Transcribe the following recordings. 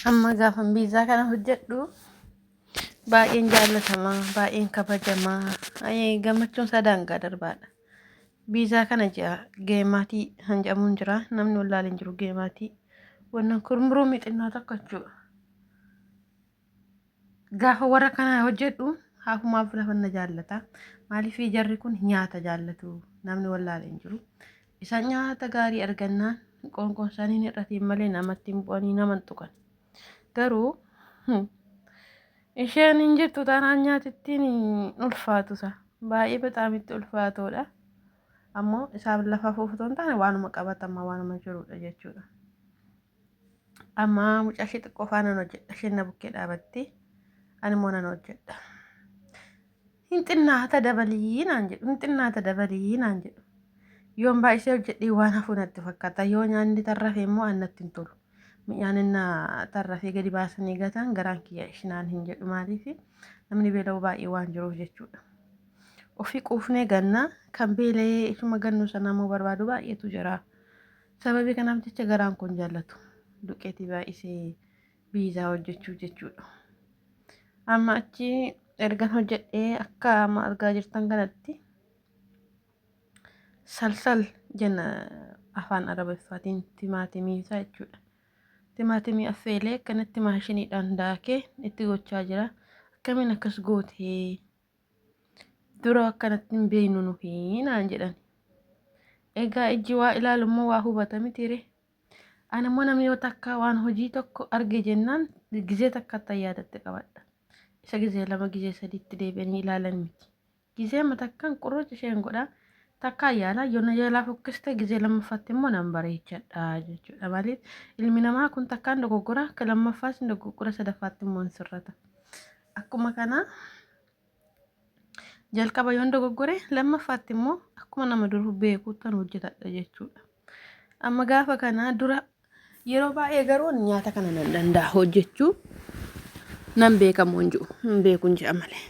Amma gaafan biizaa kana hojjedhu baay'een jaallatamaa, baay'een kabajamaa, baay'ee gammachuun isaa daangaa darbaadha. Biizaa kana ji'a geemaatii kan jedhamuun jira. Namni wallaalee hin jiru geemaatii. Wannan kurmuruu mixinnaa tokko jechuudha. Gaafa warra kanaa hojjedhu haafumaaf lafa na jaallata. Maaliif jarri kun nyaata jaallatu namni wallaale hin jiru. Isaan nyaata gaarii argannaan qoonqoon isaanii hir'atiin malee namatti hin bu'anii nama hin tuqan. Garuu isheen hin jirtu taanaan nyaatittiin ulfaatu isaa baay'ee baxaamitti ulfaatoodha. Ammoo isaan lafa fuufutoon taane waanuma qabatamaa waanuma jirudha jechuudha. Amma mucaa ishee xiqqoo faa nan hojjedha. Isheen na bukkee dhaabattee ani immoo nan hojjedha. Hin xinnaata dabalii naan jedhu. Hin xinnaata dabalii naan jedhu. Yoon baay'isee hojjedhee waan hafuu natti fakkaata. Yoo nyaanni tarrafe immoo an natti hin tolu. Mi'aan inni tarrafee gadi baasanii gataan garaan kiyya ishinaan hin jedhu maaliif namni beela'u baay'ee waan jiruuf jechuudha. Ofii quufnee gannaa kan beela'ee ishuma gannuu sanaa immoo barbaadu baay'eetu jira. Sababii kanaaf jecha garaan kun jaallatu duqeetii baay'isee biizaa hojjechuuf jechuudha. Amma achi ergan hojjedhee akka amma argaa jirtan kanatti salsal jenna afaan arabiffaatiin timaatimii isaa jechuudha. Timaatimii affeelee akkanatti maashiniidhaan daakee itti gochaa jira. Akkamiin akkas gootee Dura akkanatti hin beeknu nufi naan jedhan. Egaa ijji waa ilaalu immoo waa hubata mitiire. Ani immoo namni yoo takka waan hojii tokko arge jennaan gizee takka itti yaadatte qabadha. Isa gizee lama gizee sadiitti deebi'anii ilaalan miti. Gizee ma takkan qurruuc isheen godhaa takkaa yaalaa yoo na yaalaa fokkiste gizee lammaffaatti immoo nan bareechadha jechuudha malee ilmi namaa kun takkaan dogoggora akka lammaffaas hin dogoggora sadaffaatti immoo hin sirrata. Akkuma kana jalqaba yoon dogoggore lammaffaatti immoo akkuma nama dur beekuuttan hojjetadha jechuudha. Amma gaafa kana dura yeroo baay'ee garuu nyaata kana nan danda'a hojjechuu nan beekamu hin jiru hin beeku hin ji'a malee.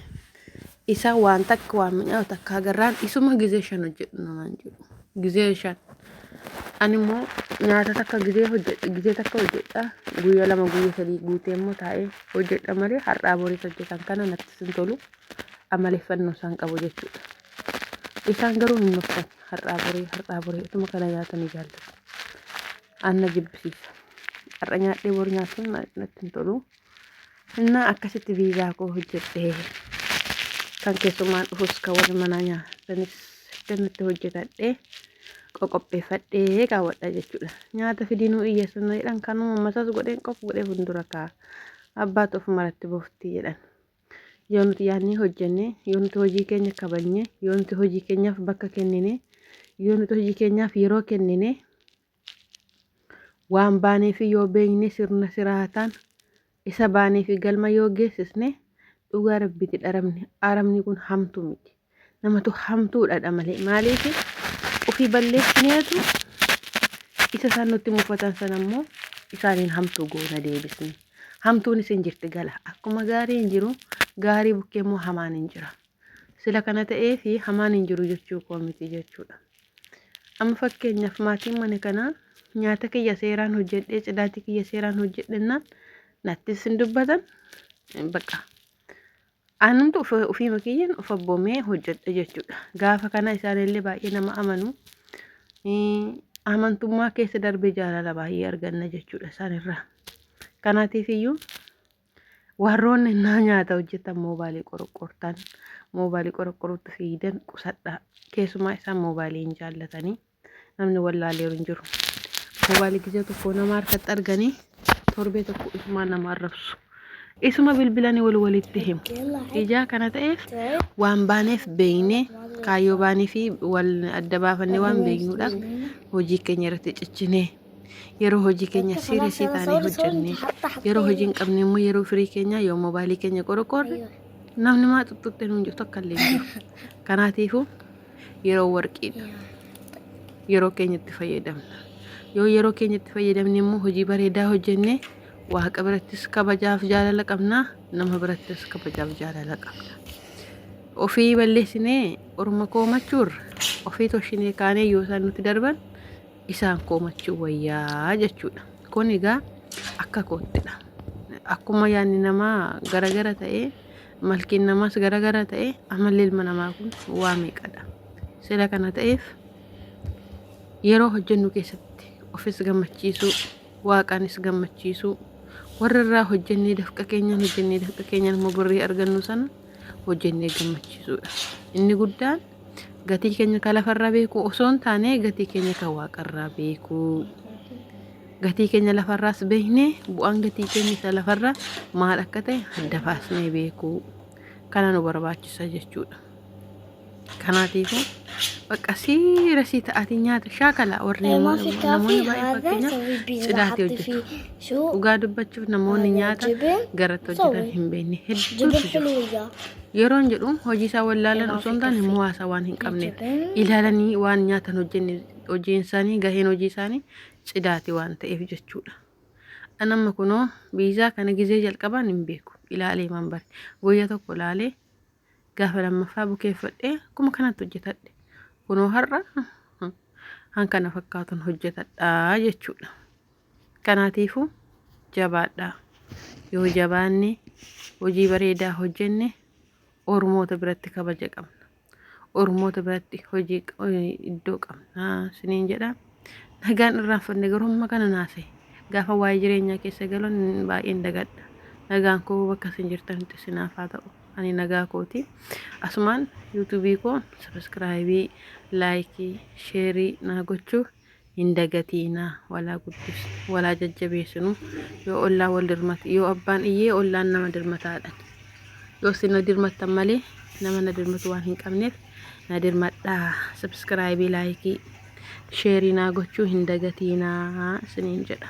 Isa waan takka waan mi'aawu takka agarraan isuma gizee shan hojjedhu namaan jedhu. Gizeen shan. Ani immoo nyaata takka gizee hojjedha gizee takka hojjedha guyya lama guyya sadii guutee immoo taa'ee hojjedha malee har'aa boriis hojjetan kana natti sin tolu amaleeffannoo isaan qabu jechuudha. Isaan garuu hin nuftan har'aa borii har'aa borii utuma kana nyaatanii jaallatu. Anna jibbisiisa. Har'a nyaadhee bor nyaachuun natti hin tolu. Innaa akkasitti viizaa koo hojjedhee kan keessummaan dhufus kan warri manaa nyaatanis dannutti hojjetadhee qoqopheeffadhee kaawwadha jechuudha. Nyaata fidinuu iyyeessuun na jedhan kanuma masas godheen qof godhee fuuldura kaa abbaatu of maratti bofti jedhan. Yoo nuti yaadnee hojjenne, yoo nuti hojii keenya kabajne, yoo nuti hojii keenyaaf bakka kennine, yoo nuti hojii keenyaaf yeroo kennine Waan baaneefi yoo beekne sirna siraataan isa baaneefi galma yoo geessisne dhugaa rabbiiti dharamne aramni kun hamtu miti namatu hamtuudhadha malee maaliif ofii balleessineetu isa isaan nutti mufatan sana immoo isaaniin hamtuu goona deebisne hamtuun isin jirti gala akkuma gaariin jiru gaarii bukkee immoo hamaan hin jira Sila kana ta'eefi hamaan hin jiru jechuu koo miti jechuudha. Amma fakkeenyaaf maatiin mana kanaa nyaata kiyya seeraan hojjedhee cidaatii kiyya seeraan hojjedhennaan nattis hin dubbatan baqa. Anumtu ofiima kiyyaan of abboomee hojjedha jechuudha. Gaafa kana isaanillee baay'ee nama amanu. Amantummaa keessa darbee jaalala baay'ee arganna jechuudha isaanirraa. Kanaatiif iyyuu Warroonni naa nyaata hojjetan moobaalii qorqortan moobaalii qorqoruutti fiidan qusadhaa keessumaa isaan moobaalii hin jaallatanii namni wallaalee hin jiru moobaalii gizee tokko nama harkatti arganii torbee tokko isumaa nama arrabsu isuma bilbilanii wal walitti himu ijaa kana ta'eef waan baaneef beeynee kaayyoo baanii fi wal adda baafannee waan beeknuudhaaf hojii keenya irratti cichinee yeroo hojii keenya siirasii taanee hojjennee yeroo hojii hin qabne immoo yeroo firii keenya yoo mobaayilii keenya qorqoorre namni maa tuttuqxee nuun jirtu akka illee jiru. Kanaatiifuu yeroo warqiidha. Yeroo keenya itti fayyadamna. Yoo yeroo keenya itti fayyadamne immoo hojii bareedaa hojjennee waaqa birattis kabajaaf jaalala qabna nama birattis kabajaaf jaalala qabna. Ofii balleessinee orma koomachuurra ofii toshinee kaanee yoo isaan nuti darban isaan koomachuu wayyaa jechuudha. Kun egaa akka koottidha. Akkuma yaadni namaa garagara ta'ee malkiin namaas garagara ta'ee amalli ilma namaa kun waa meeqadha. Sila kana ta'eef yeroo hojjennu keessatti ofis gammachiisuu waaqaanis gammachiisuu warra irraa hojjennee dafqa keenyaan hojjennee dafqa keenyaan immoo birrii argannu sana hojjennee gammachiisuudha. Inni guddaan Gatii keenya ka lafarraa beekuu osoo hin taane gatii keenya ka waaqarraa beekuu. Gatii keenya lafarraas beeknee bu'aan gatii keenya isa lafarraa maal akka ta'e adda baasnee beekuu. Kana nu barbaachisa jechuudha. Kanaatiifuu bakka siira sii ta'atii nyaata shaakala warri namoonni baay'ee fakkeenyaaf cidaatee hojjetu. Dhugaa dubbachuuf namoonni nyaata garatti hojjetan hin beekne hedduutu jiru. Yeroon jedhu hojii isaa wallaalan osoo hin taane muwaasa waan hin qabneef ilaalanii waan nyaatan hojjenne hojiin isaanii gaheen hojii isaanii cidaati waan ta'eef jechuudha. An amma kunoo biizaa kana gizee jalqabaan hin beeku ilaalee man bare guyyaa tokko ilaalee gaafa lammaffaa bukeeffadhee akkuma kanatti hojjetadhe kunoo har'a han kana fakkaatun hojjetadhaa jechuudha. Kanaatiifuu jabaadhaa. Yoo jabaanne hojii bareedaa hojjenne Oromoota biratti kabaja qabna. Oromoota biratti hojii iddoo qabna siniin jedha. Nagaan irraanfanne garuu amma kana naase. Gaafa waa'ee jireenyaa keessa galan baay'een dagadha. Nagaan koo bakka isin jirtanitti isinaaf haa ta'u. Ani nagaa kooti. Asumaan yuutuubii koo sabiskiraayibii, laayikii, sheerii naa gochuu hin dagatiinaa walaa guddis walaa jajjabeesinu yoo ollaa wal dirmate yoo abbaan iyyee ollaan nama dirmataadhan yoo sina dirmattan malee nama na dirmatu waan hin qabneef na dirmadhaa sabskraayibii laayikii sheerii naa gochuu hin dagatiinaa isiniin jedha.